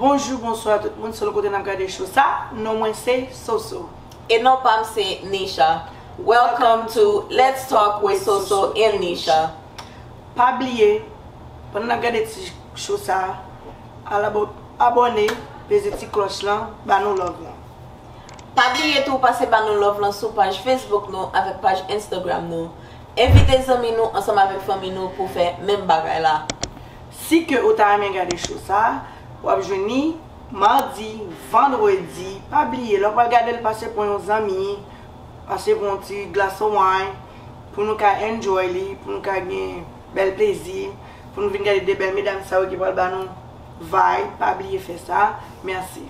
Bonjou bonswa tout moun sèl kote nap gade cho sa non mwen se soso. E non pam se Nisha. Welcome to let's talk with Soso and Nisha. Pa bliye pandan nap gade ti cho sa Ala bon abone peze ti kloch lan ba nou love lan. Pa bliye tou pase ba nou love lan sou paj Facebook nou avèk paj Instagram nou. Envite zanmi nou ansanm avèk fanmi nou pou fè menm bagay la. Si ke ou ta renmen gade show sa, wap jwenn li Mardi, Vendredi, pa bliye lè ou pral gadel pase pran yon zanmi, pase pran yon ti glace of wine pou nou ka enjoy li, pou nou ka gen. bèl plezi pou nou vin gade 2 bèl medam sa yo ki pral ba nou vibe pa bliye fè sa merci.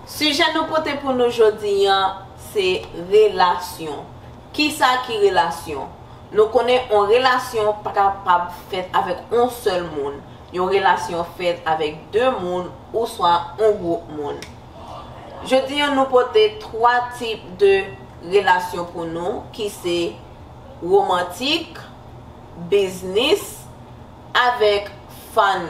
Sijè nou pote pou nou jodi an se relasyon. Kisa ki relasyon? Nou konnen on relasyon pa kapab fèt avèk on sèl moun. Yon relasyon fèt avèk 2 moun ouswa on gwoup moun. Jodi an nou pote 3 tip de relasyon pou nou ki se. romantik, biznis, avèk fann.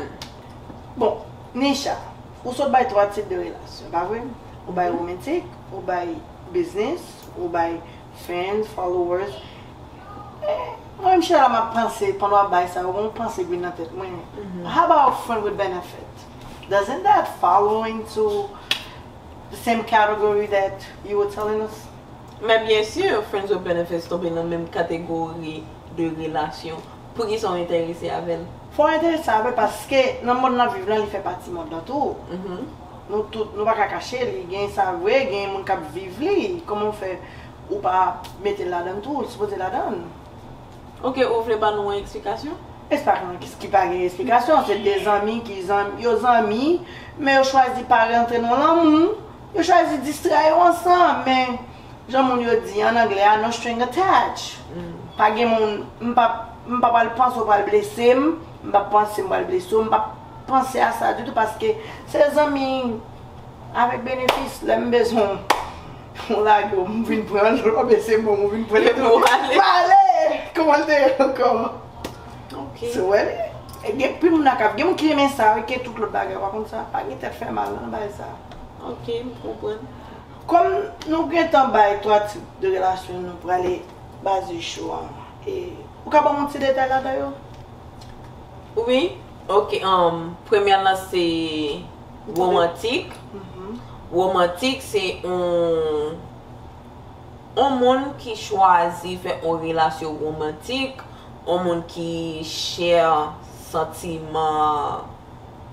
Bon, Nisha, ou sot bay 3 tip de relasyon, pa vre? Ou bay romantik, ou bay biznis, ou bay fans, followers. Men, mwen menm chita la map panse, pandan wap bay sa yo, gen yon panse k vin nan tèt mwen, how about friend with benefit? Doesn't that follow into the same category that you were telling us? Men byen sur, friends with benefits tonbe nan menm kategori de relasyon. Poukisa w enterese avè l? Fò w enterese avè l paske nan mond nap viv lan li fè pati mond lan tou. Nou tout, nou paka kache li, gen sa vre, gen moun kap viv li. Kòman w fè ou pa mete l ladan l tou, li sipoze ladan l. Ok, ou vle ba nou yon eksplikasyon? Espakon ki ki pa gen esplikasyon, se 2 zanmi ki zanmi, yo zanmi men yo chwazi pa rantre nan lanmou. Yo chwazi distrè yo ansanm, men jan moun yo di an anglè a no string attach. Pa gen moun, m pap, m pa pral panse ou pral blese m, m pap panse m pral blese w, m pap panse a sa ditou paske se zanmi avèk benefis, lè m bezwen w, ou lage w, m vin pran l, ou bese bon m, ou vin pran l epi w ale, kouman l te ye ankò? Ok. Sou wè li? Gen anpil moun ak ap, gen moun ki renmen sa wi ke tout lòt bagay, pa konn sa, pa gen tèt fè mal nan bagay sa. Ok m konprann. Kòm nou gentan bay 3 tip de relasyon nou prale baze show an e ou ka banm yon ti detay ladan yo? Wi ok humm premyè lan se romantik romantik se yon yon moun ki chwazi fè yon relasyon romantik yon moun ki share santiman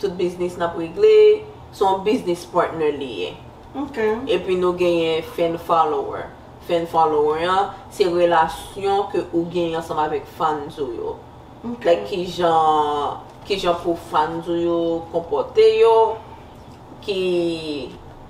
Tout biznis nap regle se yon biznis partner li ye. Ok. Epi nou genyen fan follower. Fan follower an se relasyon ke ou genyen ansanm avèk fans ou yo. Ok. Like kijan kijan pou fans ou yo konpòte yo, ki.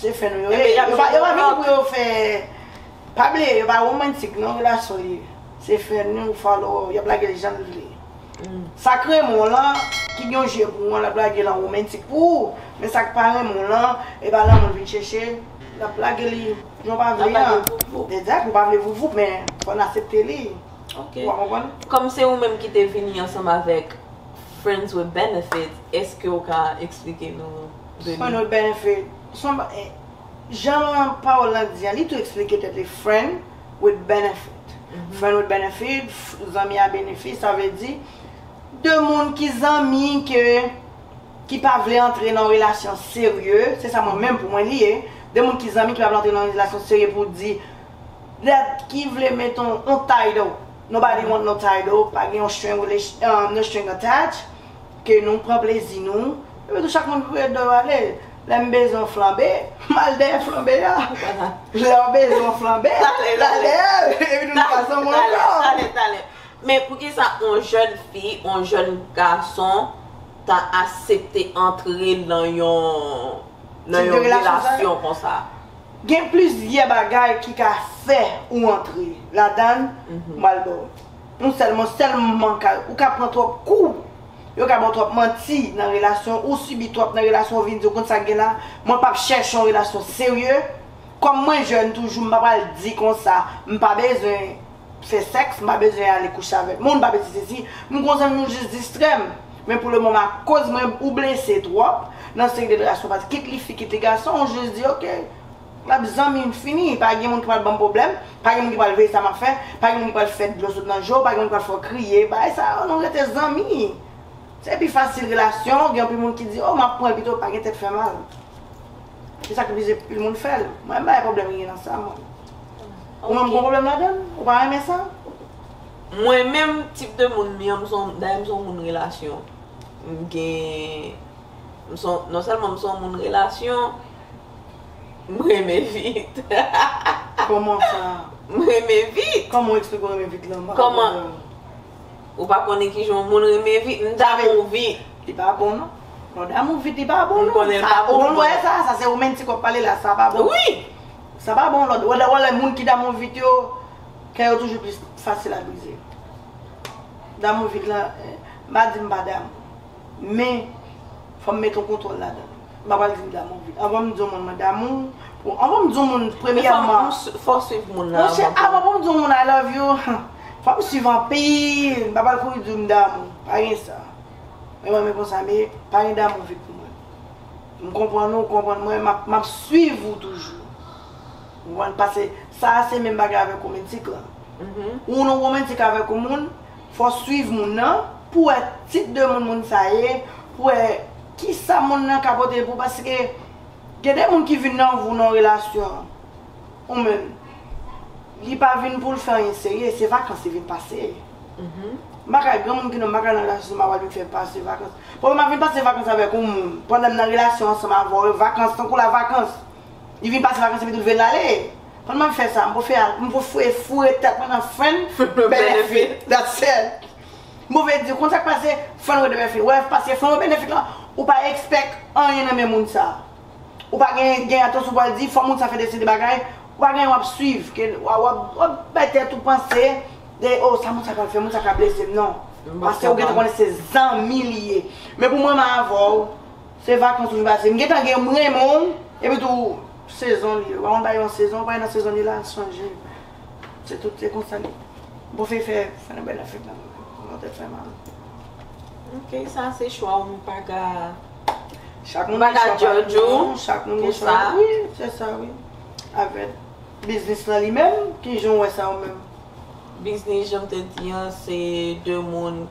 Se fè nou yo ye. Yo pa vini pou yo fè. Pa bliye yo pa romantik non relasyon yo ye. Se fè nou yo follower yo ap lage l jan l vle. Sa k renmen w lan, ki gen yon je pou w an l ap lage l an romantik pou ou. Men sa k pa renmen w lan, e pa lanmou l vin chèche, l ap lage li jan w pa vle an. L ap lage voup voup. Exact, ou pa vle voup voup men fò n asepte li. Ok. Ou konprann? Kòm se ou menm ki te vini ansanm avèk Friends with Benefits, èske ou ka eksplike nou. Fren ou byen fe. Son Jan pawol lan di an li tou esplike tet li friend with benefit friend with benefit zanmi a benefi sa vle di 2 moun ki zanmi ke ki pa vle antre nan yon relasyon serye se sa mwen menm pou mwen li ye 2 moun ki zanmi ki pa vle antre nan yon relasyon serye pou di dat ki vle met yon title nobody want no title pa gen yon string no string attach. Ke nou pran plezi nou. Epi tou chak moun pou yo do ale. Lè m bezwen yon flanbe, m al dèyè flanbe a. Lè w bezwen yon flanbe, w al dèyè l. Epi nou pa ansanm ankò. Talè, talè, talè. Men poukisa yon jèn fi, yon jèn gason ta asepte antre nan yon nan yon relasyon konsa? Gen plizyè bagay ki ka fè ou antre ladan l. M pral ba w. Nou sèlman sèlman ka ou ka pran twòp kou yo ka baw twòp manti nan relasyon ou sibi twòp nan relasyon ou vin di ou konn sak gen la mwen pap chèche yon relasyon serye kòm mwen jèn toujou m pa pral di konsa m pa bezwen fè sèks m pa bezwen ale kouche avèk moun m pa bezwen sesi m gon zanmi m jis distrèm men pou le moman akoz mwen ou blese twòp nan seri de relasyon kit li fi kit li gason ou jis di ok. Map zanmi m fini, pa gen moun ki pral banm pwoblèm, pa gen moun ki pral veye sa map fè, pa gen moun ki pral fè dlo sot nan je w, pa gen moun ki pral fè w kriye, bagay sa yo nou rete zanmi. Se pi fasil relasyon, gen anpil moun ki di oh map pran l pito pa gen tèt fè mal. Se sak oblije anpil moun fè l. Mwen m pa wè pwoblèm ki gen nan sa mwen. Ou menm ou gen pwoblèm ladan l? Ou pa renmen sa? Mwen menm tip de moun m ye an, m se yon, dayè m se yon moun relasyon. M gen, m se yon, non sèlman m se yon moun relasyon, M renmen vit. Koman sa? M renmen vit. Koman ou eksplike w renmen vit lan? Koman? Ou pa konnen ki jan yon moun renmen vit? M damou vit. Li pa bon non. Lè w damou vit li pa bon non. M konnen l pa bon. Ou wè sa? Sa se ou menm ti k w ap pale la. Sa pa bon. Wi! Sa pa bon. Ou wè lè moun ki damou vit yo, kè yo toujou plis fasil a brize. Damou vit lan, m pa di m pa damou. Men, fò m met yon kontwòl ladan l. M pa pral di m damou vit. Anvan m di yon moun mwen damou w, pou anvan m di yon moun premyèman. Fò w swiv moun nan anvan pou. Monchè, anvan pou m di yon moun I love you, fò m swiv anpil. M pa pral kouri di w m damou w. Pa gen sa. Men mwen men konsa m ye. Pa gen damou vit pou mwen. M konprann ou, ou konprann mwen, m ap swiv ou toujou. Ou konprann? Pase sa a se menm bagay avèk womentik lan. Ou nan womentik avèk yon moun. Fò w swiv moun nan pou w wè tip de moun moun sa ye, pou w wè kisa moun nan ka pote pou w paske gen de moun ki vin nan vou nan yon relasyon ou menm li pa vin pou l fè anyen serye se vakans li vin pase m pa ka gen moun ki nan m pa ka nan relasyon se m ap al vin fè pase vakans paske m ap vin pase vakans avèk yon moun pandan m nan relasyon ansanm avè w e vakans tankou la vakans. Li vin pase vakans epi tou li vle lale. Konn mwen fè sa, m pou fè m pou fwe foure tèt mwen nan frenn benefit. That's said. M pou vle di, konn sa k pase frenn with benefit. Wè, pase frenn with benefit lan, ou pa expect anyen nan men moun sa. Ou pa gen gen atansyon pou al di fò moun sa fè deside bagay, ou pa gen anyen w ap swiv ke w ap bay tèt ou panse de oh sa moun sa pral fè, moun sa ka blese m non. Pase ou gen tan konnen se zanmi li ye. Men pou mwen m avè w. Se vakans toujou pase. M gentan gen m renmen w epi tou sezon li yo. Wè yon bagay yon sezon ou pa gen nan sezon li la sonje m. Se tout se konsa li. Bon fey fè fè nan bèl afè kan menm. Bon tèt fè mal. Ok sa se chwa w m pa ka Chak moun gen chwa pa l non. Chak moun gen chwa wi se sa wi. Avè biznis lan li menm kijan w wè sa ou menm? Biznis jan m te di an se 2 moun.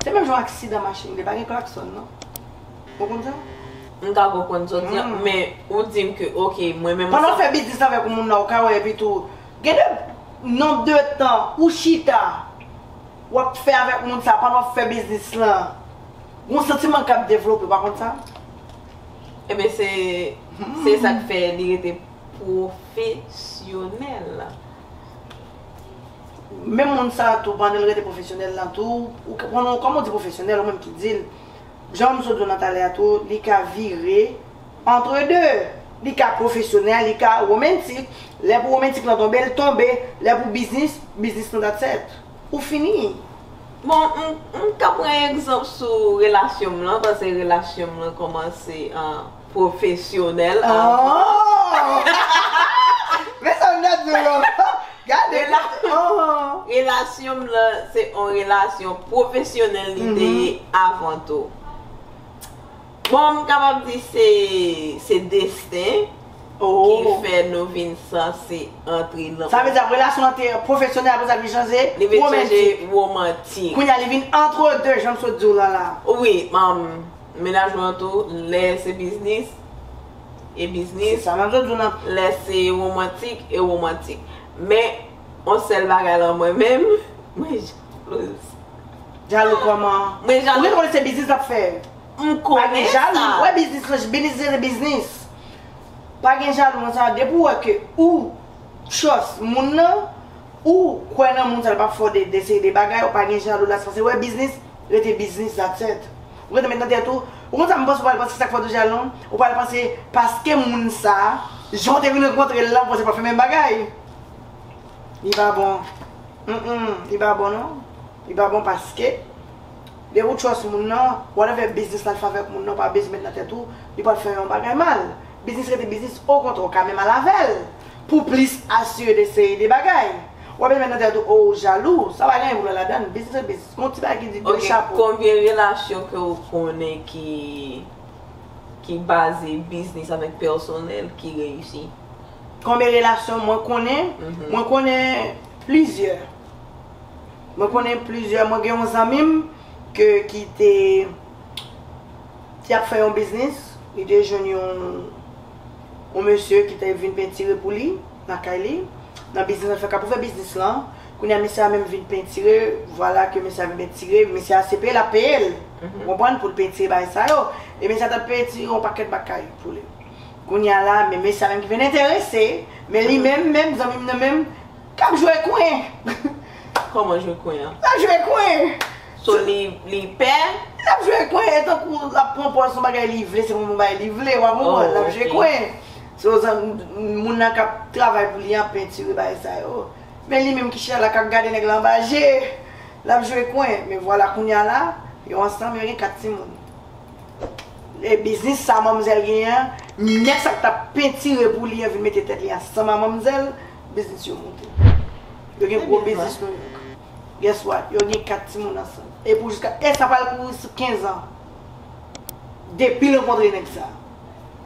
Se menm jan aksidan machin vre, pa gen klaksòn non. Ou konn sa? M ta ko konn sa w di an, men ou di m ke ok mwen menm. Pandan w fè biznis avèk yon moun la ou ka wè epitou gen de nonb de tan ou chita w ap fè avèk moun sa pandan w fè biznis lan gon santiman k ap devlope ou pa konn sa? Enben se se sa k fè li rete pwofesyonèl. Menm moun sa tou pandanl rete pwofesyonèl lan tou ou k konnen kòman ou di pwofesyonèl ou menm ki dil janm sot diw nan talè a tou li ka vire entre deux li ka pwofesyonèl li ka romantic lè pou romantic lan tonbe l tonbe lè pou biznis biznis lan that's et ou fini. Bon m m ka pran egzanp sou relasyonm lan pase relasyonm lan kòmanse an. Pwofesyonèl Relasyon m lan se yon relasyon pwofesyonèl li te ye avan tou Bon m kapab di se desten ki fè nou vin sanse antre nan Sa vle di ap relasyon an te pwofesyonèl aprè sa li vin chanje womantik Kounya li vin antre 2 jan m sot di w lan la Wi Mennaj mwen an tou, lè se biznis, e biznis, lè se womantik, e womantik. Men, yon sèl bagay lan mwen menm, mwen jalouz. Jalou kòman? Mwen jalou. Ou menm konnen se biznis l ap fè. M konnen sa. Pa gen jalou. Ou wè biznis lan, biznis rete biznis. Pa gen jalou nan sa. Depi ou wè ke ou trust moun nan, ou kwè nan moun sa l ap ap fè w de seri de bagay, ou pa gen jalou la. Se paske ou wè biznis. rete biznis that's it. Ou rete met nan tèt ou, ou konn sa m panse ou pral panse sak fè w te jalon, ou pral panse paske moun sa, jan w te vin rankontre l la ou panse pral fè menm bagay. Li pa bon. Humm li pa bon non. Li pa bon paske lè ou trust moun nan, whatever biznis l al fè avèk moun nan ou pa bezwen met nan tèt ou li pral fè yon bagay mal. Biznis rete biznis okontrè ou ka menm al avè l. Pou plis asire de seri de bagay. Wap mete nan tèt ou oh ou jalou, sa pa gen vre ladann, biznis se biznis. Gon ti bagay ki di de chapo. Ok, konbyen relasyon ke ou konnen ki ki baze biznis avèk pèsonèl ki reyisi? Konbyen relasyon mwen konnen? Mwen konnen plizyè. Mwen konnen plizyè, mwen gen yon zanmi m ke ki te ki ap fè yon biznis, li te jwenn yon yon mesye ki te vin pentire pou li lakay li nan biznis lap fè kap ouvè biznis lan kounye a mesye a menm vin pentire vwala ke mesye a vin pentire mesye a se peye lap peyel ou konprann poul pentire bagay sa yo e mesye a tap pentire yon pakèt bakay pou li kounye a la men mesye a menm ki vin enterese men li menm menm zanmi m nan menm kap jwe kwen Kòman jwe kwen an? lap jwe kwen. So li li pè? Li tap jwe kwen e tankou lap pran pòz son bagay li vle se pou nou bay li vle wa konprann lap jwe kwen so zan moun nan kap travay pou li an pentire bagay sa yo men li menm ki chita la kap gade nèg la anba je lap jwe kwen men vwala kounya la yo ansanm yo gen 4 timoun e biznis sa manmzèl gen an nèg sa ki tap pentire pou li an vin mete tèt li ansanm a manmzèl biznis yo moute yo gen gwo biznis nouyòk. Guess what, yo gen 4 timoun ansanm. E pou jiska, e sa pral kouri sou 15 ans. Depi l rankontre nèg sa.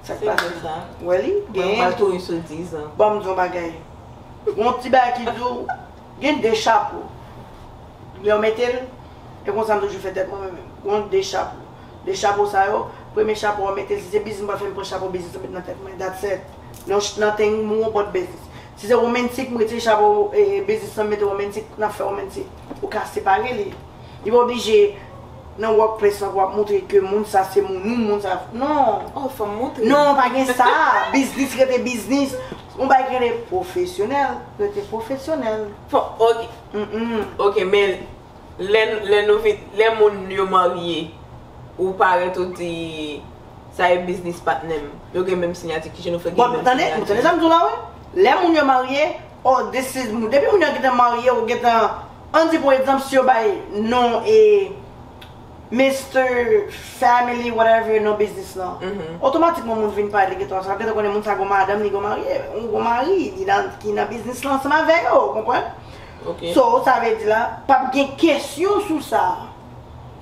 Sak pase la? Wè li, genyen tou. Pral kouri sou 10 ans. Banm di w yon bagay. Gon ti bagay ki di w, gen 2 chapo. Lè w mete l, e konsa m toujou fè tèt mwen mwen menm. Gon 2 chapo. 2 chapo sa yo, premye chapo a w mete l, si se biznis m pral fè m pran chapo biznis lan m met nan tèt mwen. That's it. Non nothing more but business. Si se romantic m retire chapo business lan m mete romantic nan fè romantic ou ka separe li li pa oblije nan work place lan pou wap moutre ke moun sa se moun ou moun sa non Oh fòm moutre. Non pa gen sa business rete business yon bagay ki rele profesyonèl rete profesyonèl. Fò ok ok men lè lè nou vin lè moun yo marye ou parèt ou di Sa e biznis patnè m. Yo gen menm sinyati kijan nou fè gen menm sinyati. Bon, ou tande sa m di w la wi. Lè moun yo marye, oh this is m. Depi moun yo gentan marye ou gentan an di pou egzanp si yo bay non e Mister family whatever non biznis lan. Otomatikman moun vin pale gentan sa gentan konnen moun sa gon madanm li gon marye ou gon mari li nan ki nan biznis lan ansanm avè yo ou konprann. So sa vle di la pap gen kesyon sou sa.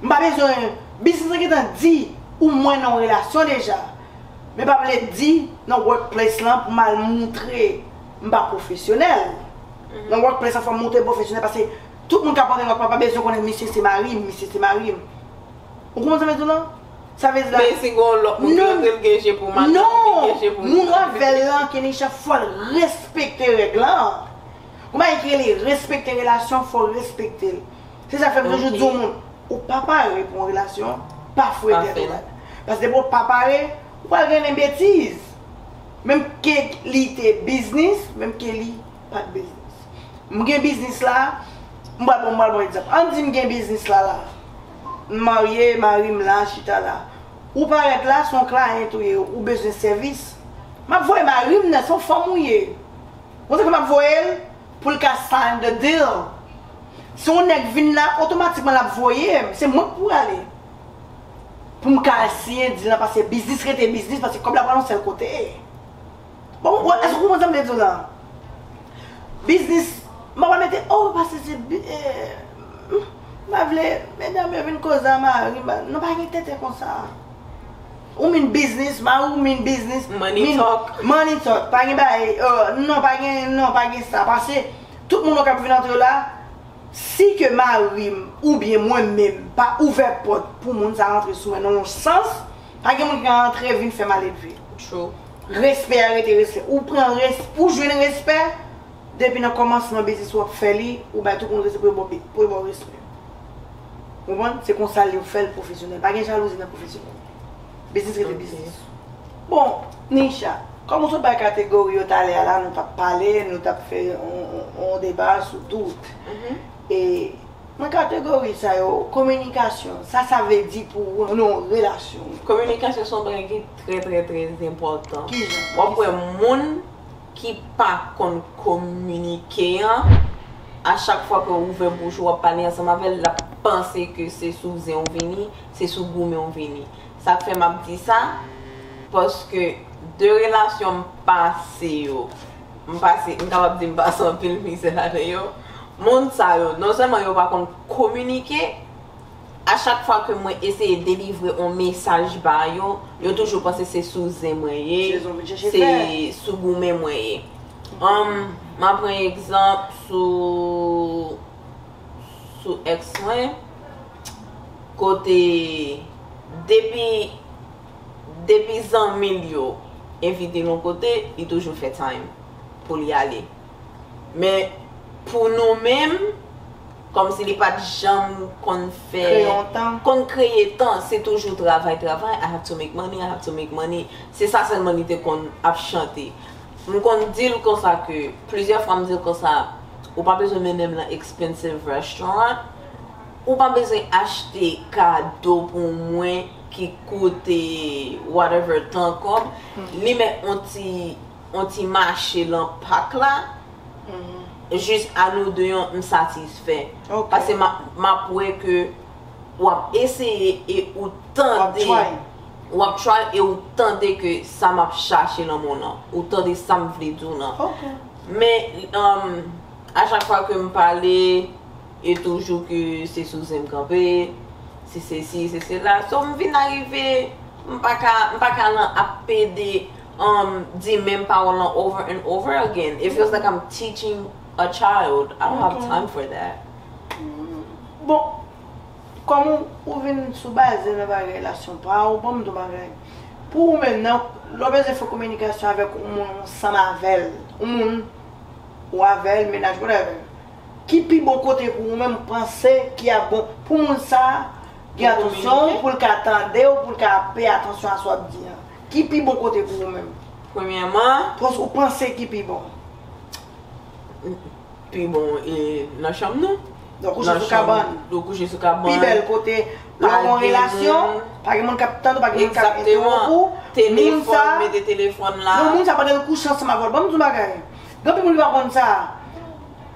M pa bezwen Biznis lan gentan di ou mwen nan yon relasyon deja Men pa vle di nan workplace lan pou m al moutre m pa pwofesyonèl Nan workplace lan fò m moutre m pwofesyonèl paske tout moun k ap antre nan workplace lan pa bezwen konnen misye se mari m misye se mari m Ou konprann sa m vle di w lan Sa vle di la Men si gen yon lòt moun ki rantre l gen je pou madanm li Non Gen je pou moun avè l lan Kenisha fò l respekte règ lan Gon bagay ki rele respekte relasyon fò w respekte l. Se sa fè m toujou di moun, ou pa pare pou yon relasyon, pa fouye tèt ou la. Paske depi ou pa pare, ou pral grennen betiz. Menm ke li te biznis, menm ke li pa t biznis. M gen biznis la, m pral pran m pral pran egzanp. An n di m gen biznis la la. M marye, mari m la, chita la. Ou parèt la, se yon client ou ye, ou bezwen sèvis. M ap voye mari m nan, se yon fanm ou ye. Ou konn sa fè m ap voye l? pou l ka sign the deal. Si yon nèg vin la, otomatikman l ap voye m, se mwen k pou ale. Pou m ka al siyen deal lan pase biznis rete biznis pase kòb la pral yon sèl kote. Bon, èske ou konprann sa m vle di w la? Biznis, m pa pral mete oh pase se bi eeh m pa vle medam yo vin koze a mari m pa, nou pa gen tenten konsa. Ou min biznis, ma ou min biznis, min money talk, pa gen bagay, non pa gen, non pa gen sa, pase tout moun nou kap vin antre la, si ke marim ou byen mwen menm pa ouvè pòt pou moun sa rantre sou mwen nan yon sans, pa gen moun ki ka rantre vin fè maledve. True. Respè a rete respè. Ou pran res, ou jwenn respè depi nan kòmansman biznis ou ap fè li, ou bay tout moun respè pou yo baw respè. Konprann? Se konsa li yo fè l pwofesyonèl. Pa gen jalouzi nan pwofesyonèl. Biznis rete biznis. Bon, Nisha, kòm ou sot bay kategori yo talè a la, nou t ap pale, nou t ap fè yon deba sou tout. E nan kategori sa yo, kominikasyon, sa sa vle di pou ou nan yon relasyon? Kominikasyon se yon bagay ki trè trè trè enpòtan. Ki jan? W ap wè moun. ki pa konn kominike an, a chak fwa ke w ouvè bouch ou wap pale ansanm avè l, lap panse ke se sou zen w vini, se sou goumen w vini. Sak fè map di sa, paske de relasyon m pase yo, m pase, m kapab di m pase anpil mizè ladan yo, moun sa yo, non sèlman yo pa konn kominike, A chak fwa ke mwen eseye delivre on mesaj ba yo, yo toujou panse se sou zen mwen ye, se sou goumen mwen ye. Humm, m'a pran egzanp sou, sou ex mwen, kote depi, depi zanmi l yo envite l on kote, li toujou fè time pou li ale. Men pou nou menm, kòm si li pa t janm konn fè, konn kreye tan, se toujou travay, travay, I have to make money, I have to make money, se sa sèlman li te konn ap chante. M konn di l konsa ke, plizyè fwa m di l konsa, ou pa bezwen mennen m lan expensive restaurant, ou pa bezwen achte kado pou mwen ki koute whatever tan kòb, li met on ti. on ti mache lan pak la jis a nou 2 an m satisfè pase map wè ke wap eseye e ou tande wap try e ou tande ke sa map chache lan moun lan ou tande sam vle di w lan men a chak fwa ke m pale e toujou ke se sou zen m kanpe se sesi se sela so m vin arive m paka lan ap pede um di menm pawòl lan over and over again it feels like I'm teaching a child I don't have time for that. Bon, kòm ou vin sou baze nan bagay la son pa'w, banm di w bagay. Pou ou menm nan, lè w bezwen fè kominikasyon avèk yon moun ou ansanm avè l, yon moun ou avè l, mennaj, whatever, ki pi bon kote pou ou menm panse ki ap bon pou moun sa gen atansyon pou l ka tande w, pou l ka peye atansyon a sa w ap di an? Ki pi bon kote pou ou menm? Premyèman. Pòs ou panse ki pi bon? Pi bon e nan chanm nou. Nan kouche sou kabann. Nan kouche sou kabann. Pi bèl kote. Lè ou an relasyon. Pa gen moun kap tande ou pa gen moun kap entewonp ou. Moun sa. Telefòn mete telefòn la. Non moun sa pandan l kouche ansanm avè w. Banm di yon bagay. Gen anpil moun ki pa konn sa.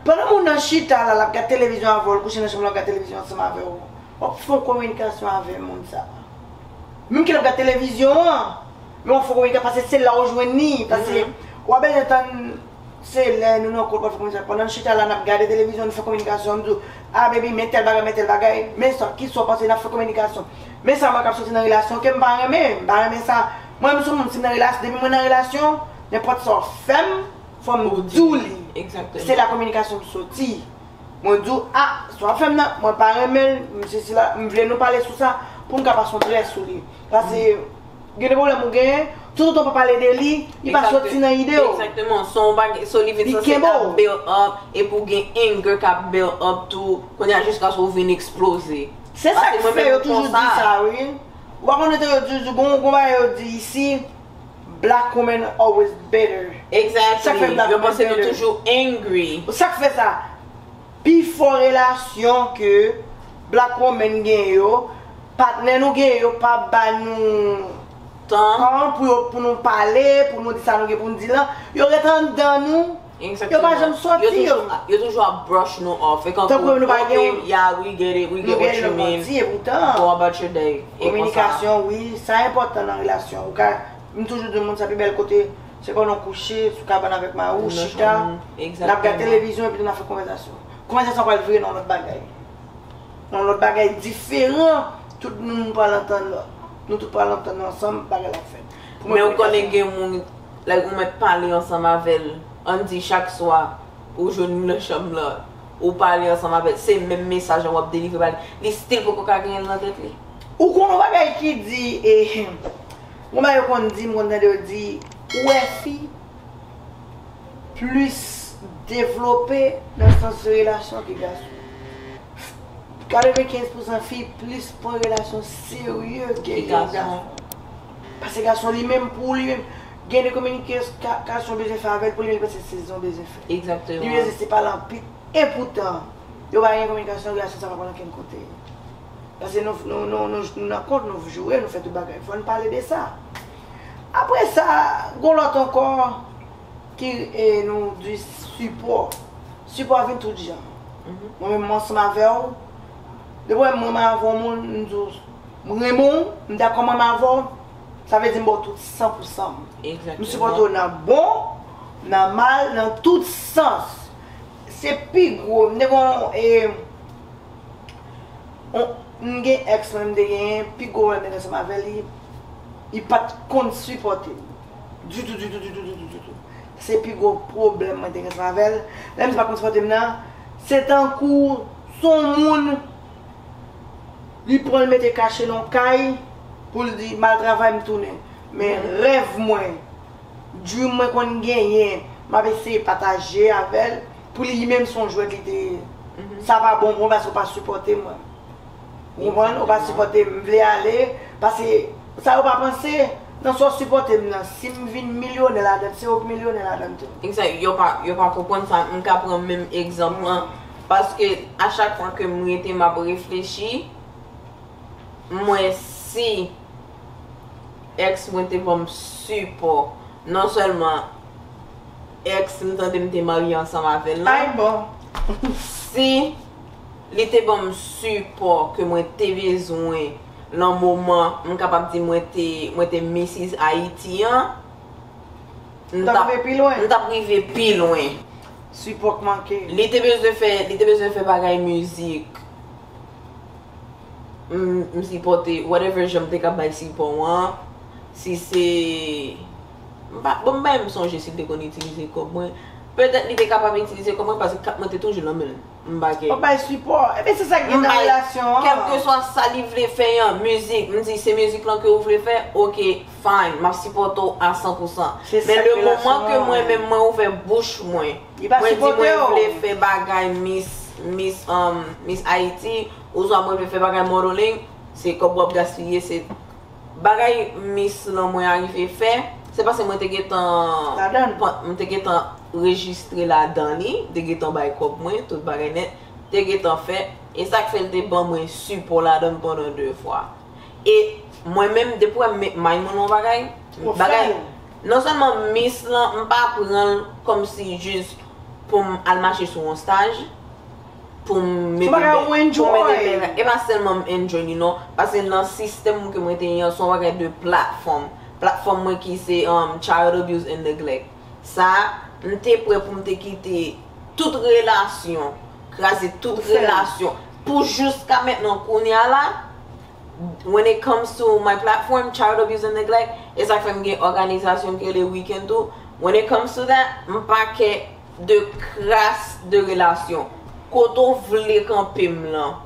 Pandan moun nan chita la lap gad televizyon avè w l kouche nan chanm l lap gad televizyon ansanm avè w. Wap fon kominikasyon avè moun sa. Menm ki lap gad televizyon an lè wap fè komedyen pase se la ou jwenn li pase wap bezwen tann se lè nou nan kont wap fè komedyen pandan nou chita la nap gade televizyon nou fè kominikasyon nou di w a baby men tèl bagay men tèl bagay men sa kisa w panse nap fè kominikasyon men sa mwen wè kap soti nan relasyon kem pa renmen m pa renmen sa mwen menm sou moun sim nan relasyon depi mwen nan relasyon nenpòt sa w fèm fòm diw li se la kominikasyon m soti. Mwen diw ah sa wap fèm nan mwen pa renmenl m sesi la m vle nou pale sou sa poum ka pas on trè sou li pase gen de pwoblèm ou genyen tout otan w pa pale de li li pa soti nan ide w Exactement son w bagay son li vin li sanse kenbe w ap build up epi w gen anger kap build up tou kounya jiskaske w vin exploze se sak fè yo toujou di sa wi ou pa konn yo toujou di gon bagay yo di isi. Black women always bitter. Exactly. Yo panse nou toujou angry. Sa k fè sa? Pi fò relasyon ke black women gen yo, patnè nou gen yo pa ba nou tan pou nou pale, pou nou di sa nou gen pou nou di lan. Yo ret anndan nou. Yo pa janm soti yo. Yo toujou ap brush nou off. E kankou, ok, yeah, we get it, we get what you mean. Go about your day. Kominikasyon, wi, sa enpòtan nan relasyon. Ou ka, m toujou di moun sa pi bèl kote, se pandan w kouche sou kabann avèk mari w, chita, n ap gad televizyon epi tou n ap fè konvèzasyon. Konvèzasyon pral vire nan yon lòt bagay. Nan yon lòt bagay diferan, tout moun pral antann lòt. Nou tout pral antann nou ansanm, bagay la ap fèt. Men ou konnen gen moun like ou mèt pale ansanm avèl ann di chak swa ou jwenn li nan chanm lan ou pale ansanm avèl se menm mesaj lan wap delivre ba li li still poko ka genyen l nan tèt li. Ou konn yon bagay ki di eehmm yon bagay yo konn di m konn tande yo di ou wè fi plis devlope nan sans relasyon ke gason 95 pousan fi plis pran relasyon serye ke yon gason. Pase gason li menm pou li menm gen de kominike kasyon w bezwen fè avè l pou li menm li panse se zen w bezwen fè. Li bezwen se pale anpil. Epoutan, yo pa gen kominikasyon relasyon sa pa pral okenn kote. Pase nou nan kont nou joure nou fè tout bagay. Fò n pale de sa. Apre sa, gon lòt ankò ki nou di sipò. Sipò a vin tout jan. Mwen menm m ansanm avè w. Depi w wè m mwen m avè w moun m di w. M renmen w, m dakò m anm avè w, sa vle di m ba w tout san pou san m. M sipòte w nan bon, nan mal, nan tout sans. Se pi gwo, m te gen yon e, yon, m gen ex mwen m te genyen, pi gwo wè m te gen ansanm avè li, li pa t konn sipòte m. Ditou, ditou, ditou, ditou, ditou. Se pi gwo pwoblèm mwen te gen ansanm avè l. Lè misye pa t konn sipòte m nan, se tankou s on moun. Li pran l mete kache nan yon kay pou l di m al travay m tounen. Men rèv mwen, dream mwen konn genyen m ap eseye pataje avè l pou li menm se yon jwèt li te ye. Sa pa bon pou mwen paske ou pa sipòte mwen. Ou konprann? Ou pa sipòte m. M vle ale paske sa yo pa panse nan sa w sipòte m nan. Si m vin milyonè ladan l, se ou k milyonè ladan l tou. Yo pa konprann sa. M ka pran menm egzanp lan. Paske a chak fwa ke m rete m ap reflechi, m wè si ex mwen te ban m sipò, non sèlman ex m tande m te marye ansanm avè l lan, si li te ban m sipò ke mwen te bezwen lan moman m kapab di mwen te mwen te Mrs Haïti an, m t ap rive pi lwen. Sipò k manke. Li te bezwen fè li te bezwen fè bagay mizik m sipòte whatever jan m te ka bay sipò an si se m pa bon m pa menm sonje si l te konn itilize kòb mwen petèt li te kapab itilize kòb mwen paske kat mwen te toujou nan men l. M bagen. Wap bay sipò. Ebyen se sak gen nan relasyon an. M bay kelkeswa sa li vle fè an mizik. M di se mizik lan ke ou vle fè ok fine map sipòte w a san pou san. Men le moman ke mwen menm mwen ouvè bouch mwen. Li pa sipòte w. Mwen di mwen vle fè bagay miss miss miss Haiti oswa mwen vle fè bagay modeling se kòb wap gaspiye se. Bagay miss lan mwen arive fè, se pase mwen te gentan Ladann. mwen te gentan rejistre ladan li, m te gentan bay kòb mwen, tout bagay nèt, m te gentan fè, e sa k fè l te ban mwen sipò ladann pandan 2 fwa. E mwen menm depi wè m met may mwen nan yon bagay, Ou fè bagay l. non sèlman miss lan m pa pran l kòmsi jis pou m al mache sou yon staj, pou m mete bè. Son bagay ou enjoy. E pa sèlman m enjoy li non. Pase nan sistèm mwen ke mwen te ye an, son bagay de platfòm. Platfòm mwen ki se child abuse and neglect. Sa, m te prè pou m te kite tout relasyon, kraze tout relasyon. Pou jiska mentnan kounye a la, when it comes to my platform, child abuse and neglect, e sa k fè m gen òganizasyon m rele weekend tou, when it comes to that, m pa kè 2 kras de relasyon. Kote w vle kanpe m lan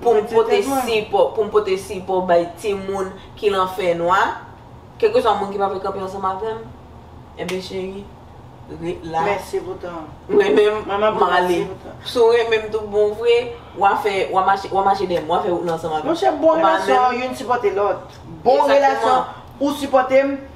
pou m pote sipò, pou m pote sipò bay timoun ki lan fènwa, kèlkeswa moun ki pa vle kanpe ansanm avè m, enben cheri, ret la. Mèsi pou tan an. Mwen menm, m ap ale. Si w renmen m tout bon vre, w a fè, w a mache, w a mache dèyè m, w a fè wout lan ansanm avè m. Monchè, bon relasyon, youn sipòte lòt. Bon relasyon, ou sipòte m.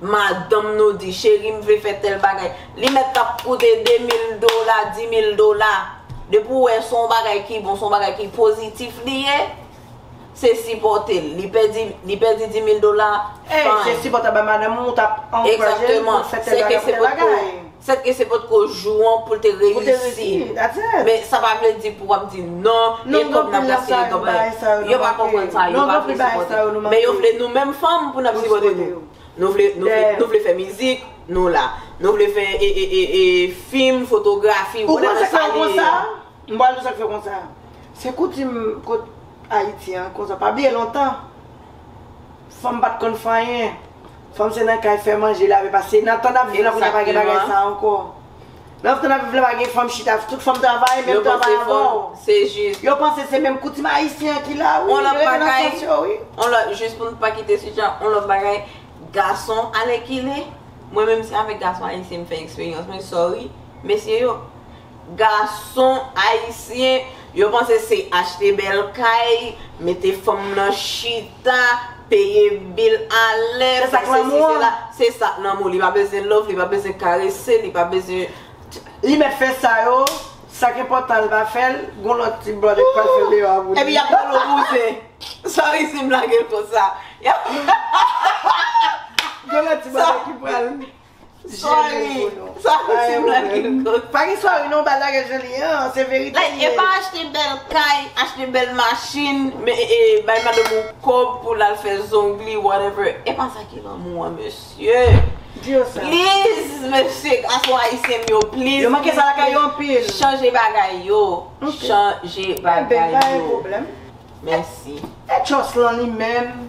Madanm nou di, cheri m vle fè tèl bagay. Li mèt ap koute 2 mil dola, 10 mil dola. Depi w wè se yon bagay ki bon, se yon bagay ki pozitif li ye, se sipòte l. Li pèdi, li pèdi 10 mil dola, fine. E, se sipòte ba madanm ou, ou t ap ankouraje l pou l fè tèl bagay pou tèl bagay. Sèt ke se potko jou an poul te reyisi men sa pa vle di pou wap di non e kòb nap gaspiye nan bagay yo pa konprann sa yo pa vle sipòte nou men yo vle nou menm fanm pou nap sipòte nou nou vle nou vle fè mizik nou la nou vle fè fim fotografi ou konn sak fèw konsa m pral diw sak fèw konsa se koutim kot ayiti an konsa pa bliye lontan fanm pat konn fanyen. Fanm se nan kay fè manje lave pase nan tan nap viv la kounya pa gen bagay sa ankò nan tan nap viv la pa gen fanm chita tout fanm travay menm travay avèw se jis yo panse se menm koutim ayisyen an ki la wi on lòt bagay on lòt jis pou nou pa kite sijè an on lòt bagay gason alèkile mwen menm se avèk gason ayisyen m fè eksperyans mwen sorry mesye yo Gason ayisyen yo panse se achte bèl kay, mete fanm nan chita, peye bil a lè, fè sesi fè la, se sa lanmou, li pa bezwen love, li pa bezwen karese, li pa bezwen. Li mèt fè sa yo, sa k enpòtan l pa fè l, gon lòt tip blan li pral fè deyò a pou li. Epi y ap pran l o bouzen. Sa resi blage l konsa. Gon lòt tip blan ki pral. Sorry Sa fouti m la ki m kote Pa gen sorry non bal la gen jan li an Se verite li ye Like e pa achte bèl kay Achte bèl machin Men e bay madanm ou kòb pou l al fè zong li whatever E pa sa ki lanmou an mesye Di yo sa Please mesye gason ayisyen m yo please Yo manke sa lakay yo anpil Chanje bagay yo Chanje bagay yo Ebyen pa gen pwoblèm Mèsi E Jocelyn li menm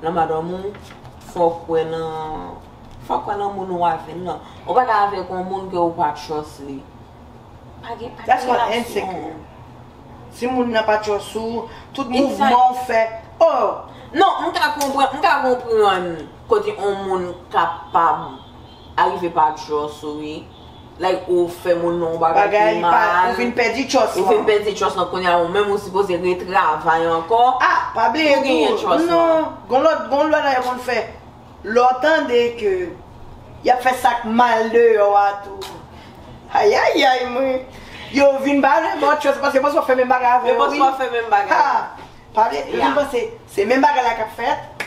Nan madanm ou, fò w kwè nan, fò w kwè nan moun ou avè l lan. Ou pa ka avèk yon moun ke ou pa trust li. Pa gen, pa gen relasyon. That's called insecure. Si moun nan pa trust ou, tout mouvman ou fè, oh! Non, m ka konprann, m ka konprann kote yon moun kapab Arive pa trust ou wi. Like ou fè moun nan yon bagay ki mal. Bagay ou fin pèdi trust lan. Ou fin pèdi trust lan kounya ou menm ou sipoze retravay ankò. Ah pa bliye tou non gon lòt gon lwa nan yo konn fè. Lè w tande ke yap fè sak mal deyò a tou. Ayayay mwen. Yo vin pale bò trust paske yo panse wap fè menm bagay avè yo wi. Yo panse wap fè menm bagay. Ha. Pale, epi m panse se menm bagay la kap fèt.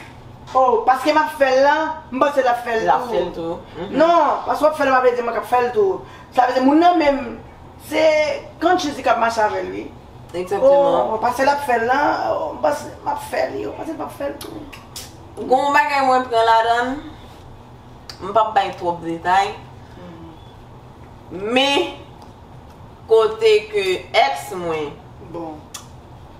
Oh, paske m ap fè l lan, m panse l ap fè l tou. Non, paske w ap fè l lan pa vle di mwen k ap fè l tou. Sa vle di moun nan menm, se Conscious li k ap mache avè l wi. Exactement. Oh, paske l ap fè l lan, m panse m ap fè l, yo panse m pa p fè l tou. Gon w bagay mwen pran ladan l, m pa p bay twòp detay, men kote ke ex mwen. Bon.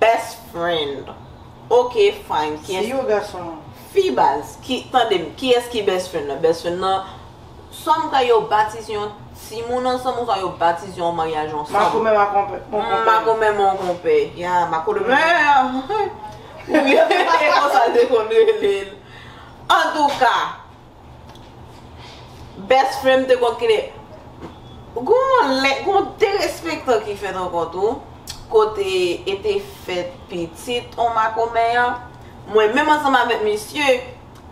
Best friend ok fine kiyès. Si yo gason. Fi baz ki tandem kiyès ki best friend nan best friend nan swa m kwè yo batize yon timoun ansanm oswa yo batize yon maryaj ansanm. Makomè ma konpè mon konpè. Makomè mon konpè ya makolomè ou ye se konsa l te konn rele l antouka. Best friend te konn kile Gon derespektan ki fèt ankò tou Kote e te fèt pitit on makomè an Mwen menm ansanm avèk misye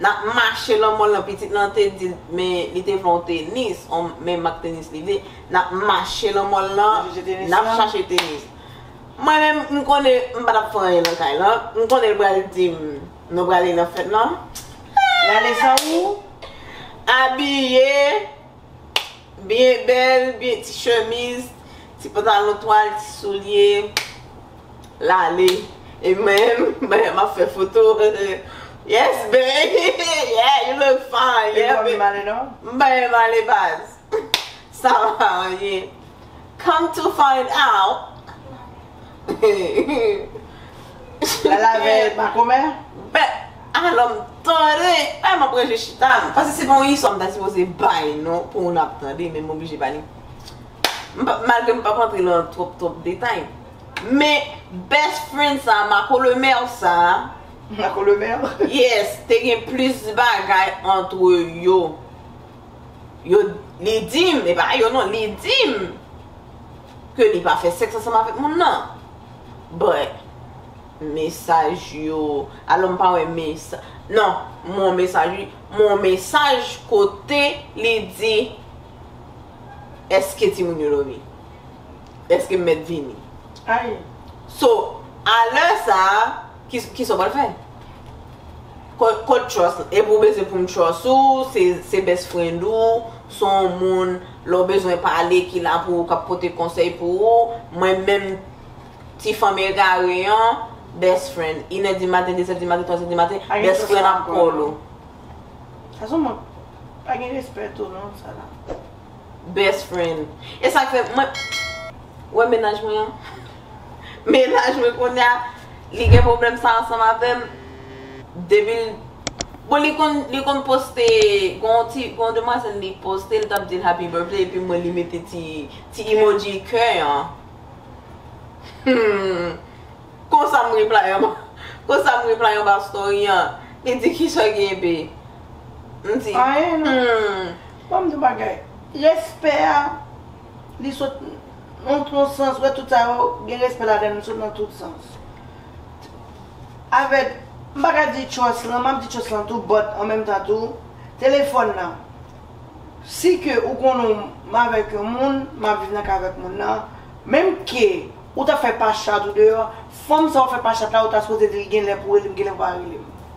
Nap mache lan mòl lan pitit lan te dil Men li te vle on tenis Men mak tenis li vle Nap mache lan mòl lan Nap chache tenis Mwen menm m konnen m pa tap fè anyen lan kay lan M konnen l pral dim Nou prale nan fèt lan. Gade jan ou abiye. Byen bèl, byen ti chemiz, ti pantalon twal, ti soulye. Lale. E menm, mwen ap fè foto. Yes baby, yeah you look fine. Li pa byen ale non? M pa byen ale baz. Sa va anyen. Come to find out. Lala veye pa komè? Bè alò m tande, bay m aprè je chita m. Pase se pa yon istwa m ta sipoze bay non pou moun ap tande men m oblije ba li. Malgre m p ap antre lan twòp twòp detay. Men best friend sa, makolemèr sa. Makolemèr? Yes, te gen plis bagay antre yo. Yo, li di m, e pa yo non, li di m ke li pa fè sèks ansanm avèk moun nan. But, mesaj yo, alò m pa wè mesa, non, m wè yon mesaj wi, m wè yon mesaj kote li di, Eske timoun yo dòmi? Eske m mèt vini? Ayy! So, a lè sa a, kisa w pral fè? Kot trust l epi ou bezwen pou m trust ou se best friend ou se yon moun lè w bezwen pale ki la pou ou kap pote konsèy pou ou mwen menm ti fanm egare an best friend inè di maten dezè di maten twazè di maten best friend ap call ou. Sa son mank pa gen respè tou non sa la. Best friend. E sak fè mwen Ou wè mennaj mwen an? Mennaj mwen kounya li gen pwoblèm sa ansanm avèm depi l Bon li konn li konn poste gon yon ti gon yon demwazèl li poste li tap di l happy birthday epi m wè li mete ti ti emoji kè an Humm konsa m reply anba konsa m reply anba story an li di kisa genbe m di humm Banm di w bagay, respè a li sot nan tout sans, ou wè tout sa yo gen respè ladan l, li sot nan tout sans. Avèk, m pa ka di trust lan, map di trust lan tou but an menm tan tou, telefòn nan, si ke ou konnen w m avèk yon moun, map viv nan kay avèk moun nan, menm ke ou ta fè pa chat ou deyò, fanm sa ou fè pa chat la ou ta sipoze di l gen lè pou rele m, gen lè pou l pa rele m.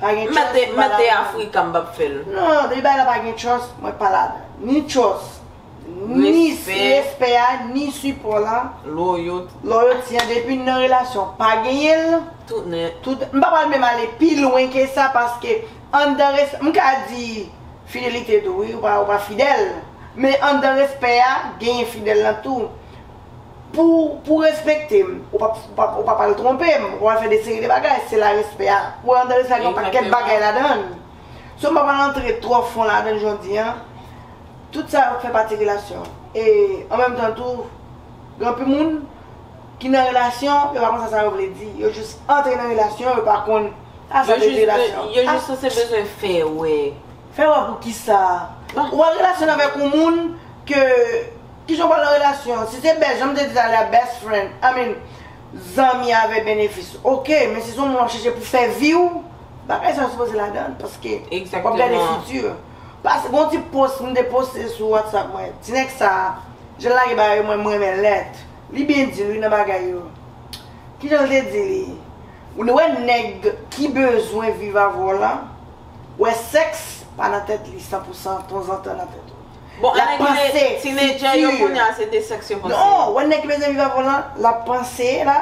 Pa gen trust mwen pa ladann. Mete Africa m pap fèl. Non depi bagay la pa gen trust mwen pa ladann. Ni trust ni respè a ni sipò la. Loyauté. Loyauté an depi nan relasyon pa genyen l. Tout nèt. Tout m pa pral menm ale pi lwen ke sa paske anndan res m ka di fidelite tou wi ou pa fidèl men anndan respè a genyen fidèl lan tou. Pou pou respekte m, ou pap ou pap ou pap al twonpe m, ou pap al fè de seri de bagay, se la respè a. Ou wè André sa gen yon pakèt bagay ladan l. So m pa pral antre twò fon ladan l jodi an. Tout sa yo fè pati relasyon. E an menm tan tou, gen anpil moun ki nan relasyon, yo pa konn sa sa yo vle di. Yo jis antre nan relasyon, yo pa konn sa sa vle di relasyon. Yo jis sanse bezwen fè wè. Fè wè pou kisa? Ou al relasyon avèk yon moun ke. Kijan w pral nan relasyon an? Si se best, jan m te di talè a, best friend, I mean, zanmi avè benefis, ok. Men si se yon moun w ap chèche pou fè vi w, bagay sa yo sipoze ladan l, paske w ap gade fiti w. Pase, gen yon ti post m te poste sou whatsapp mwen, ti nèg sa, jan l lage bagay yo mwen m renmen lèt. Li byen di l wi nan bagay yo. Kijan l te di li? Ou dwe wè nèg ki bezwen viv avè w lan, wè sèks pa nan tèt li san pou san, tonzantan nan tèt ou. Bon lap anèk panse le ti nedjè yo kounye a se de sèks yo panse. Non wè nèg ki bezwen viv avèw lan lap panse la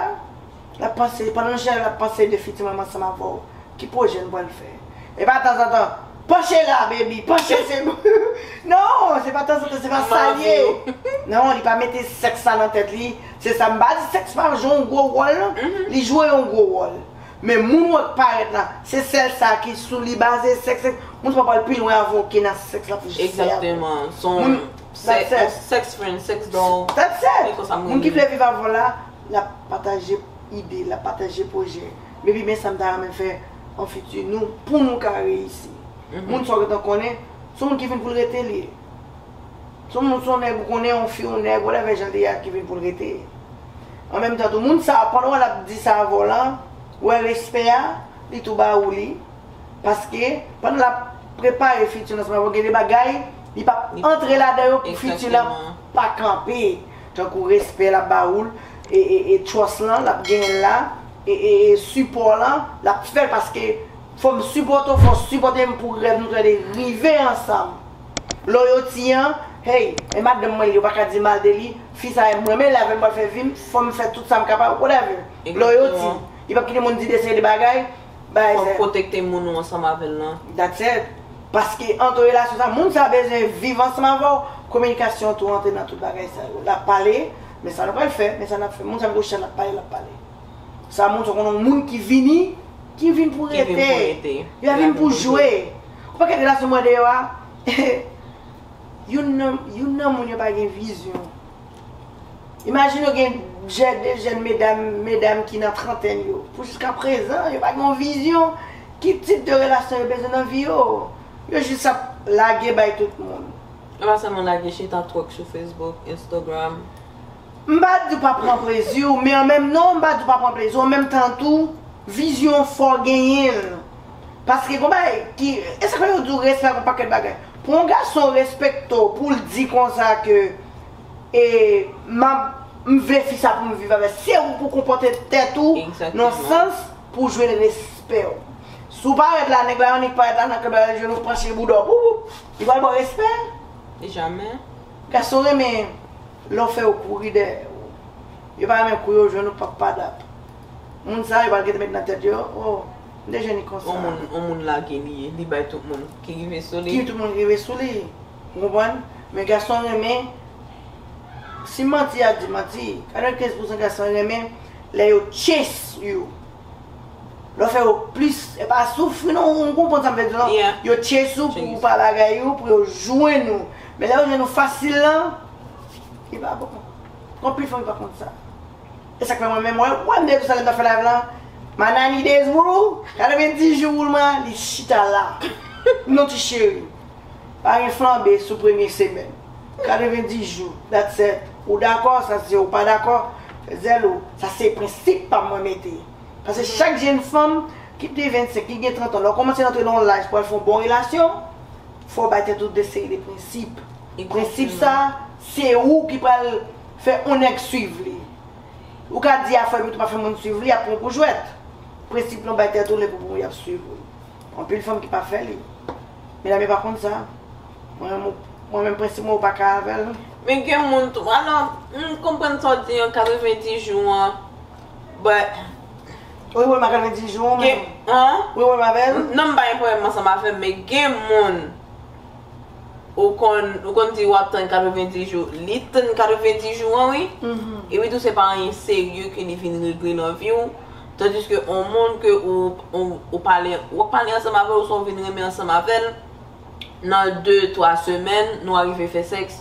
lap panse pandan nou chèlè lap panse de fiti manman ansanm avèw ki pwojè nou pral fè e pa tanzantan panche la baby panche se pou non se pa tanzantan se pa sal ye non li pa mete sèks sa nan tèt li se sa m pa di sèks pa jwe yon gwo wòl non li jwe yon gwo wòl. Men moun wòk parèt la, se sèl sa ki sou li baze, sèks, sèks, moun pa pral pi lwen avè w ke nan sèks l ap fè jis fè avè w. Exactement, s on That's it. sex friend, sex doll, That's it! se konsa m Moun ki renmen. vle viv avè w la, l ap pataje ide, l ap pataje pwojè. Baby men sa m ta renmen fè an fiti nou, pou nou ka reyisi. Moun sa w gentan konnen, s on moun ki vin pou l rete li ye. Son moun, son nèg ou konnen, yon fi, yon nèg, whatever jan li ye a ki vin pou l rete. An menm tan tou, moun sa a, pandan w wè l ap di sa avè w lan, ou wè respè a, li tou ba ou li. Paske, pandan l ap prepare fiti l ansanm avè w, gen de bagay li p ap antre ladan yo pou fiti lan pa kanpe. Tankou respè l ap ba ou l, e trust lan, l ap genyen l la, e sipò lan, l ap fè l paske fò m sipòte w, fò w sipòte m pou rèv nou tou lè de rive ansanm. Loyauty an hey e madanm mwen li yo paka di mal de li fi sa em renmen li avèl pral fè vim fòm fè tout sam kapab whatever Loyauty li pap kite moun di de seri de bagay bagay sa fòk protekte moun ou ansanm avèl lan. That's it paske antre relasyon sa moun sa bezwen viv ansanm avèw kominikasyon tou antre nan tout bagay sa yo lap pale men sa nou pral fè men sa nap fè moun sa gwo chèn lap pale lap pale sa moun sa konn yon moun ki vini ki vin pou rete yo vin pou jwe Ou pa gen relasyon mwen deyò a youn nan youn nan moun yo pa gen vizyon imajine ou gen jè de jèn medam medam ki nan trantèn yo pou jiska prezan yo pa gen yon vizyon ki tip de relasyon yo bezwen nan vi yo yo jis ap lage bay tout moun. Yo pa sèlman lage chita twòk sou facebook instagram. M pa di w pa pran plezi w men an menm non m pa di w pa pran plezi w an menm tan tou vizyon w fò w genyen l. Paske gon bagay ki, e sa fè yo di w respè pou pakèt bagay. Pou yon gason respekte w, pou l di konsa ke e m ap, m vle fi sa pou m viv avè l, se ou pou konpòte tèt ou nan sans pou jwenn respè w. Si w parèt la, nèg la annik parèt la nan klèb la, li jwenn ou panche bouda w, boubou, li pral ba w respè? Jamè. Gason renmen lè w fè yo kouri dèyè w. Yo pa renmen kou yo jwenn ou pap padap. Moun sa yo pral gen te met nan tèt yo, o. M te jwenn li konsa. On moun, on moun lage li, li bay tout moun ki rive sou li. Ki tout moun rive sou li. Ou konprann? Men gason renmen, si manti a di manti, 95 pousan gason renmen lè yo chase you. Lè yo fè yo plis, e pa soufri non, ou konprann sa m vle di w lan? Yeah. Yo chase ou pou pa lagay ou, pou yo jwenn ou. Men lè yo jwenn ou fasil lan, li pa bon. Gen anpil fanm ki pa konn sa. Esak fè mwen menm wè wèm de toussaint ta fè live la my 90 days rule 90 jou rule mwen an li chita la non ti cheri pa gen flanbe sou premye semèn 90 jou dat sèt ou dakò sa se ou pa dakò fè zèl ou sa se prensip pam mwen mete pase chak jenn fanm ki pdi 25 ki gen 30 an lè w kòmanse rantre nan yon laj pou al fè yon bon relasyon fò w bay tèt ou de seri de prensip prensip sa se ou ki pral Fè on nèg swiv li. Ou ka di afè epitou pa fè moun swiv li, yap pran w pou jwèt. Prensip lan bay tèt ou lè pou pou yap swiv ou. Anpil fanm ki pa fè li. Medam yo pa konn sa. Mwen menm prensip mwen ou pa ka avè l. Men gen moun tou. Alò, m konprann sa w di an 90 jou an but. Ou gen pwoblèm a 90 jou an ou menm? Ou gen pwoblèm avè l? Non m pa gen pwoblèm ansanm avè l men gen moun. ou konn ou konn di wap tann 90 jou li t tann 90 jou an wi epi tou se pa anyen serye ke li vin regle nan viw tandiske on moun ke ou ou pale wap pale ansanm avèl oswa ou vin renmen ansanm avèl nan 2 3 semèn nou arive fè sèks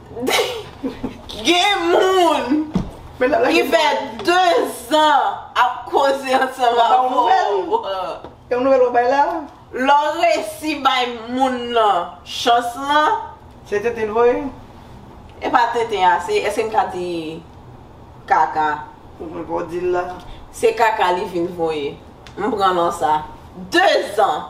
Gen moun ki fè 2 zan ap koze ansanm avè w. Lè w resi bay moun lan chans lan. Se tenten l voye? E pa tenten a, se eske m ka di kaka? Ou menm pa w di l la. Se kaka li vin voye. M pran nan sa. 2 zan.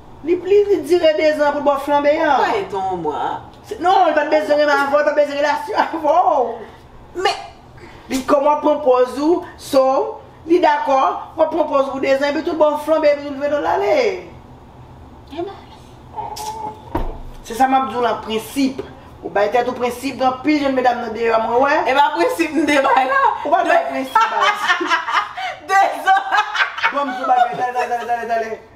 Li pli vit dire 2 zan pou bò flanbe an. Ou pa ye ton ou mwa a. Non, li pa t bezwen renmen avè w, li pa t bezwen relasyon avè w. Men! Li kòm wap pran pòz ou, so, li dakò, wap pran pòz ou pou 2 zan, epi tout bò w flanbe epi tout vre do l ale. Epi w ale. Se sa map di w lan, prensip. Ou bay tèt ou prensip, gen anpil jenn medam nan deyò a mwen wè. E pa prensip m te bay la. Ou pa t bay prensip baz. 2 zan. Banm di w bagay, tale tale tale tale tale.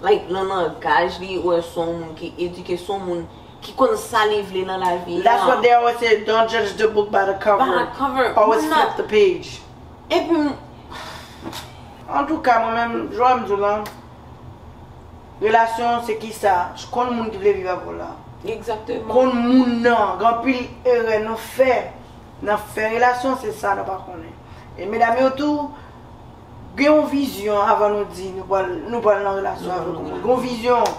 Like nan langaj li ou wè son moun ki edike son moun ki konn sa li vle nan lavi an. That's what they always say don't judge the book by the cover. By the cover. Always flip the page. Epi m. Antouka mwen menm jan m di w lan relasyon se kisa konn moun ki vle viv avè w lan. Exactement. Konn moun nan gen anpil erè nou fè nan fè relasyon se sa nou pa konnen e medam yo tou Gen yon vizyon avan nou di nou pral nou pral nan relasyon avèk yon moun. Gon vizyon.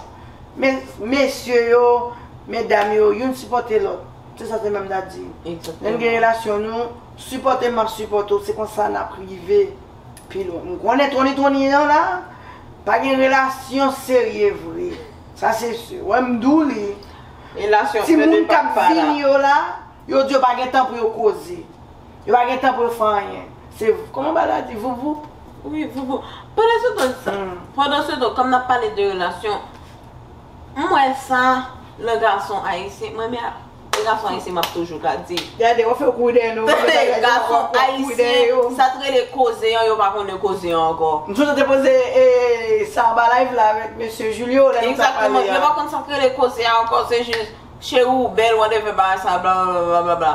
Men mesye yo, medam yo, youn sipòte lòt. Se sa Semèm ta di. Lè n gen relasyon nou sipòte m map sipòte w se konsa nap rive pi lwen. M konnen Tony Tony nan la pa gen relasyon serye vre. Sa se si. Ou wè m di w li. Relasyon Ti moun kap vini yo la, yo di yo pa gen tan pou yo koze. Yo pa gen tan pou yo fè anyen. Se kòman ba la di voup voup. Wi voup voup. Pandan se tan sa. Pandan se tan kòm nap pale de relasyon. M wè sa nan gason ayisyen. Mwen men nan gason ayisyen map toujou ka di. Gade yo fè kou dèy nou. Tande gason ayisyen. Sa t rele koze an yo pa konnen koze an ankò. M sou te poze e sa anba live la avèk mesye Julio lè nou tap pale a. Yo pa konn sa t rele koze a ankò se jis cheri ou bèl whatever bagay sa blablabla.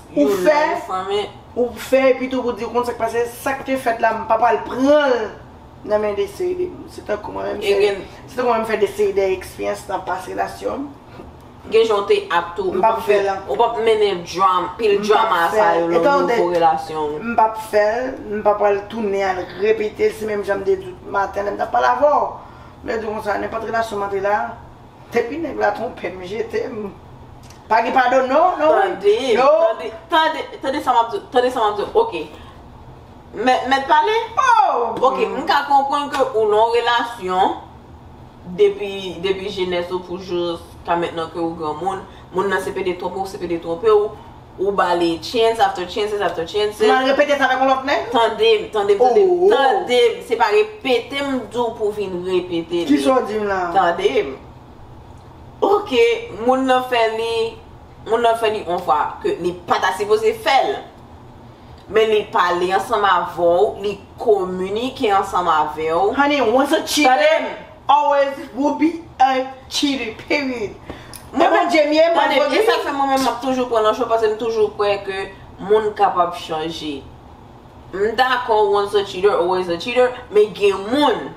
Ou fè, ou fè epi tou pou di ou konn sak pase, sak te fèt la m pa pral pranl nan men deseri de moun. Se tankou mwen menm, se tankou mwen menm fè deseri de ekspeyans nan pas relasyon m. Gen jan ou te ak tou, ou pap fèl ankò. Ou pap mennen drama, pil drama sa yo nan nouvo relasyon ou. M pap fèl, m pa pral tounen al repetel, se menm jan m te di ou maten lè m tap pale avè w. M te di ou konsa, nenpòt relasyon m antre la, Depi nèg la twonpe m jete m pa gen padon non non Tande tande tande tande sa map di w tande sa map di w ok Mèt mèt pale oh ok m ka konprann ke ou nan yon relasyon depi depi jenès ou pou jous ka mentnan ke ou granmoun moun nan se pede twonpe w se pede twonpe w Ou ba li chance after chances after chances. Mal repete sa avèk yon lòt nèg? Tande m, tande m, tande m, tande m! Se pa repete m di w pou vin repete li. Kisa w di m la? Tande m. Ok, moun nan fè li, moun nan fè li yon fwa ke li pa ta sipoze fè l. Men li pale ansanm avè w, li kominike ansanm avè w. Honey, once a cheater. Tande m! Always will be a cheater period Mwen menm Djemie mwen vòt wi. E sak fè mwen menm map toujou pran nan cho paske m toujou kwè ke moun kapab chanje. M dakò once a cheater always a cheater men gen moun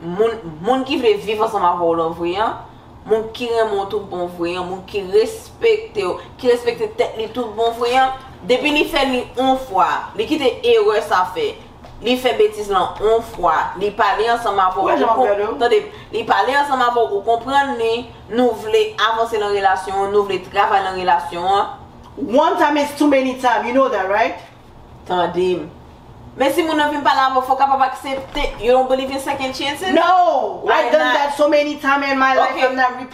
moun moun ki vle viv ansanm avèw lan vre an moun ki renmen w tout bon vre an moun ki respekte w ki respekte tèt li tout bon vre an depi li fè li on fwa li kite erè sa fè Li fè betiz lan on fwa, li pale ansanm avè w, ou kon, tande, li pale ansanm avè w, ou konprann li, nou vle avanse lan relasyon an, nou vle travay lan relasyon an. One time is too many time, you know that right? Tande m. Men si moun nan vin pale avè w, fè w kapab aksepte, you don't believe in second chances? No! I've done that so many time in my life, I'm not repeating.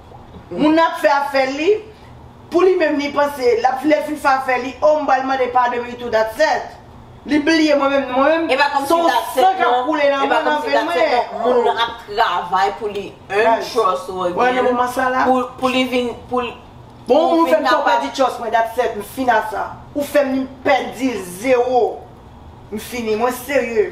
Moun nan ap fè afèl li Pou li menm li panse lap lè fin fè afè li oh m pral mande padon li tou that's et Li bliye mwen menm non mwen menm son san kap koule nan mwen nan venn mwen oh Moun nan ap travay pou li un trust ou again Pou li vin pou l Bon moun ou fèm fè w pèdi trust mwen that's et m fin a sa Ou fèm pèdil zero M fini mwen serye.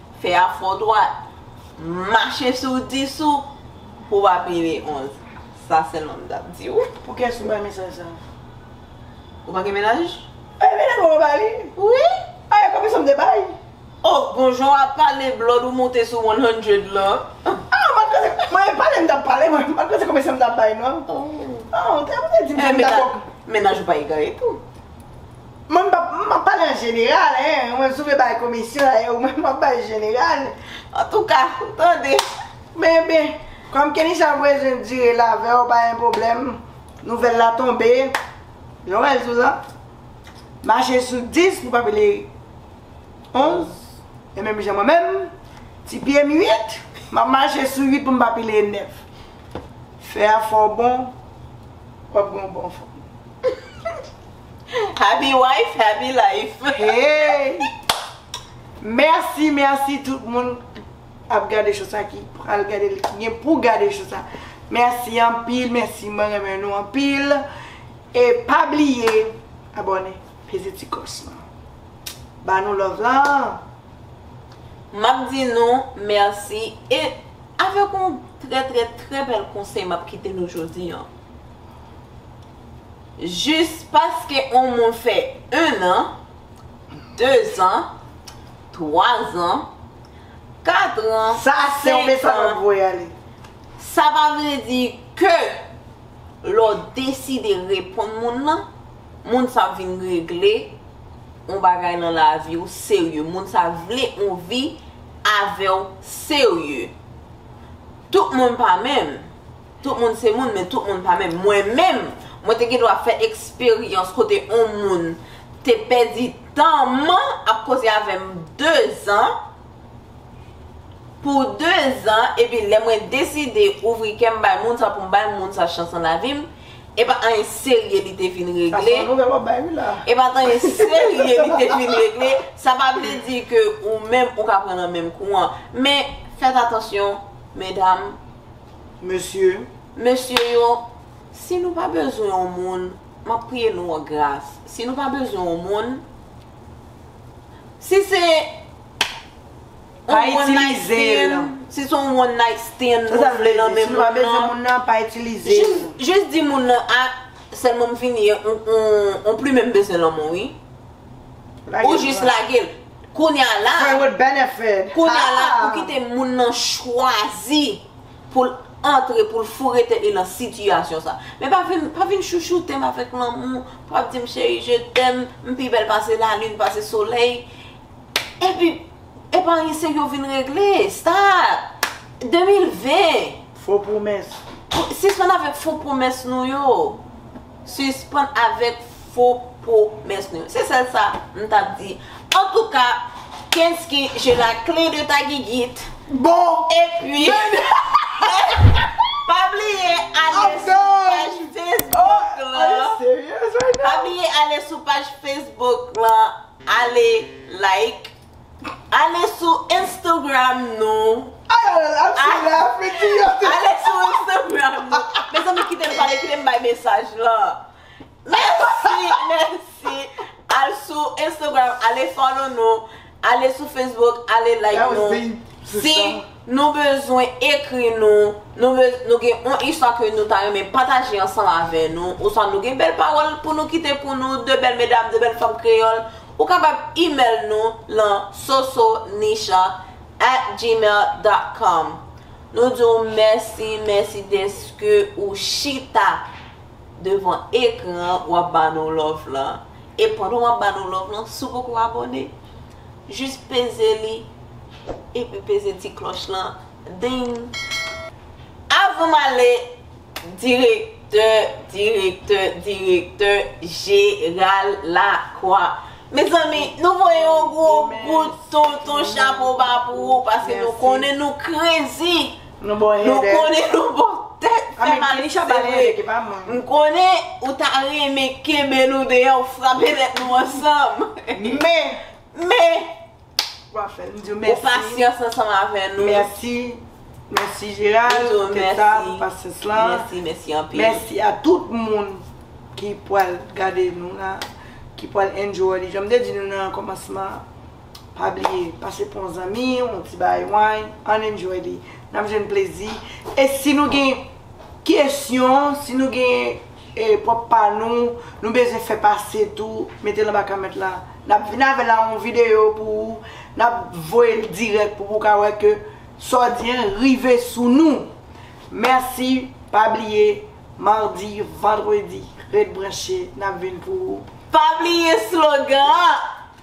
Fè a fò dwat. Mache sou 10 ou pou wap rive 11. Sa sèlman m tap di w. Pou kiyès ou bay mesaj sa? Ou pa gen menaj? Eeh menaj mwen mwen bay li. Wi. Eeh konbyen som te bay? Oh bon jan wap pale blood ou moute sou 100 lan. Ah mwen panse mwen e pale m tap pale mwen pat panse konbyen som tap bay non. Oh. Oh ou te di m som ta. Menaj ou pa egare tou. Mwen m ap pale an jeneral hein, ou menm si w vle bay komisyon la e ou menm w ap bay jeneral, antouka ou tande. Men ben, kòm Kenisa bezwen dire l avè w pa gen pwoblèm, nouvèl la tonbe, jan w wè l sou la, mache sou 10 pou pa pale 11, e menm jan mwen menm, ti pye m 8, m ap mache sou 8 pou m pa pale 9. Fè a fè w bon, w ap gen yon bon fòm. Happy wife, happy life. Hey! Merci, merci tout moun ap gade show sa ki pral gade li ki gen pou gade show sa. Merci anpil, merci mwen renmen nou anpil. E pa bliye abone, peze ti klos lan. Ba nou love lan. Map di nou merci e avek yon trè trè trè bèl konsèy map kite nou jodi an. jis paske on moun fè 1 an, 2 zan, 3 zan, 4 ran, 5 ran, sa pa vle di ke lè w deside reponn moun lan, moun sa ap vin regle on bagay nan lavi w serye, moun sa vle on vi avè w serye. Tout moun pa menm. Tout moun se moun, men tout moun pa menm. Mwen menm, mwen te gen dwa fè eksperyans kote on moun te pèdi tan m ap koze avè m dezan, pou dezan, epi lè mwen deside ouvri kè m bay moun sa pou m bay moun sa chans nan lavi m, e pa anyen serye li te vin regle. Sa son nouvèl w ap bay wi la. E pa anyen serye li te vin regle, sa pa vle di ke ou menm ou ka pran nan menm kou an. Men, fèt atansyon, medam. mesye. Mesye yo, si nou pa bezwen yon moun, m ap priye nou an gras, si nou pa bezwen yon moun, si se yon one night stand, si se yon one night stand nou vle nan men moun nan, pa itilize l. Jis di moun nan, a, sèlman m fini, m plimen m bezwen lanmou wi. Ou jis lage l. Kounya la Friend with benefit Kounya la ou kite moun nan chwazi pou l antre pou l foure tèt li nan sitiyasyon sa. Men pa vin pa vin chouchoute m avèk lanmou pou ap di m cheri je tèm m pi bèl pase lalin pase solèy epi epi anyen serye ou vin regle stop 2020 Fo pwomès. Sispann avèk fo pwomès nou yo. Sispann avèk fo pwomès nou yo. Se sèl sa m t ap di. Antouka, Kensky, je la kle de ta gigit. Bon! Epi, pa bliye ale sou paj Facebook lan. Pa bliye ale sou paj Facebook lan. Ale like. Ale sou Instagram nou. Ale sou Instagram nou. Mezanmi kite m pale, kite m bay mesaj lan. Mèsi, mèsi. Al sou Instagram, ale follow nou. Ale sou Facebook, ale like nou. Si. Nou bezwen ekri nou, nou be, nou gen on istwa ke nou ta renmen pataje ansanm avè nou, oswa nou gen bèl pawòl pou nou kite pou nou, de bèl medam, de bèl fanm kreyòl, ou kapab imèl nou lan sosonisha at gmail dot com. Nou di w mèsi, mèsi dèske ou chita devan ekran w ap ba nou love lan. E pandan w ap ba nou love lan, si w poko abòne, Jis peze li epi peze ti klòch lan Ding! Avan m ale Direktè, Direktè, Direktè Jeral Lakwa Mezanmi nou voye yon gwo kout tonton chapo ba pou ou paske nou konnen nou krezi Nou bon headache. Nou konnen nou bon tèt. Fè mal li se vre. M konnen ou ta renmen kenbe nou deyò ou frape tèt nou ansanm. Men. Men. Ou pa fè nou diw mèsi. Ou pasyans ansanm avè nou. Mèsi. Mèsi Gérald. Mèsi. Pou tèt la, pou pasyans la. Mèsi. Mèsi anpil. Mèsi a tout moun ki pwal gade nou la. Ki pwal enjoy li. Janm te di nou nan kòmansman an. Pa bliye pase pou yon zanmi, yon ti bagay wany, ann enjoy li. N ap jwenn plezi. E si nou gen kesyon, si nou gen pwòp pa nou, nou bezwen fè pase tou, mete l anba kòmant la. N ap vin avè l an yon videyo pou ou. N ap voye l dirèk pou ou ka wè ke sa w di an rive sou nou. Mèsi. Pa bliye madi, vandredi, ret branche. N ap vin pou ou. Pa bliye slogan an!